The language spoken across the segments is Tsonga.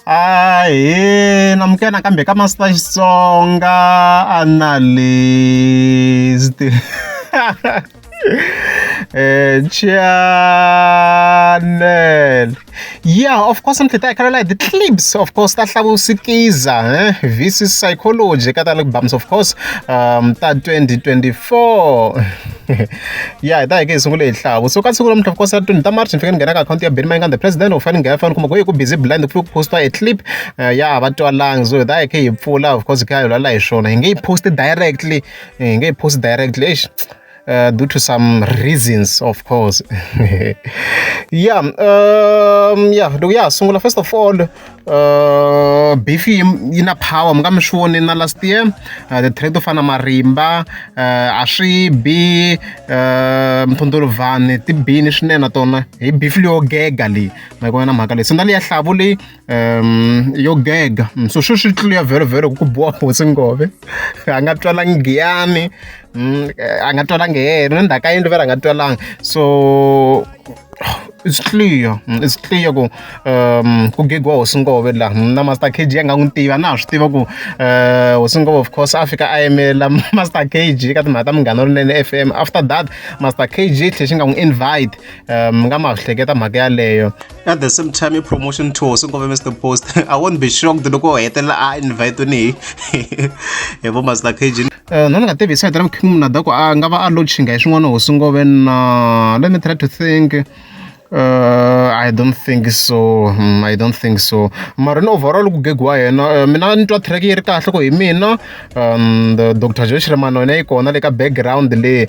Ahee, na amukela nakambe ka Master Xitsonga Analyst. Channel. Yeah, of course ni tlhela hi khalela hi ti-clips of course ta hlavusikiza eh? this is psychology ka ta albums of course um, ta 2024 ya hi ta hi ke hi sungule hi hlavu so ka siku lamuntlha of course ya twenty ta march ni fike ni nghena ka akhawunti ya benny mayinga the president of fane nghena fane kuma ku yi ku busy blind ku fike ku postiwa a clip eh, ya va twalangi so hi ta hi khe hi pfula of course hi kha hi lwala hi swona hi nge yi post directly eh, hi nge yi post directly eish uh, due to some reasons of course yeah um, yeah loko ya ha sungula first of all Uh, beef yi yi na power mi nga mi swi voni na last year uh, the trade to fana marimba uh, a swi bi uh, mphunduluvhani ti bini swinene na tona hi beef leyo gega leyi ma yi na mhaka leyi senda leyi ya hlavu leyi um yo gega mm, so swi swi tluya vhelo vhelo ku ku boha hosi ngove a nga twalangi giyani mm, a nga twalangi heheni ni ndzhaka yindlu vera a nga twalangi so it's clear it's clear ku ku gigiwa hosi nkove la na master kg a nga n'wi tiva na ha swi tiva ku hosi nkove of course a fika a yimela master kg ka timhaka ta munghana lowunene f m after that master kg tlhe xi nga n'wi invite um nga ma swi hleketa mhaka yaleyo at the same time i-promotion to hosi nkove mr post i won't be shocked loko hetelela a invite ni hi vo master kg Uh, no ni nga tivi hi sayiti ra mukhimu munada ku a nga va a lochinga hi swin'wana hosi ngove na let me try to think Uh, I don't think so. Mm, I don't think so. Mara ni overall ku gig wa yena uh, mina ni twa track yi ri kahle ku hi mina um, the Dr. Joe Shiremano yena yi kona le ka background le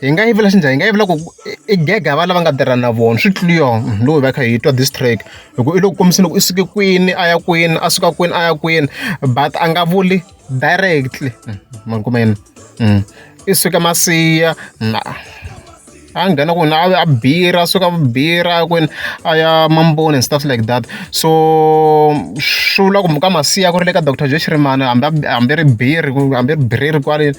hi nga yivela xi njhani hi nga yivela ku i gega va lava nga tirha na vona swi tliyo mhm, loko hi va kha hi twa distrack hi ku i loko kombisini loko i suke kwini a ya kwini a suka kwini a ya kwini but a nga vuli directly mhm, makumeni mhm. i suke masiya na a nghena kwini a bira suka bira kwini a ya mamboni and stuff like that so swi vula ku muka masiya ku ri le ka doctor joe xirimana hambi hambi ri biri hambi ri biriri kwaleni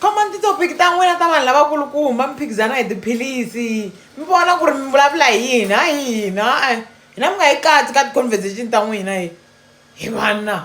khomani titopiki ta n'wina ta vanhu lavakulukumba mi phikizana hi tiphilisi mi vona ku ri mi vulavula hi yini ha yini ha-e hina mi nga yi katsi ka ti-conversation ta n'wina hi hi vanna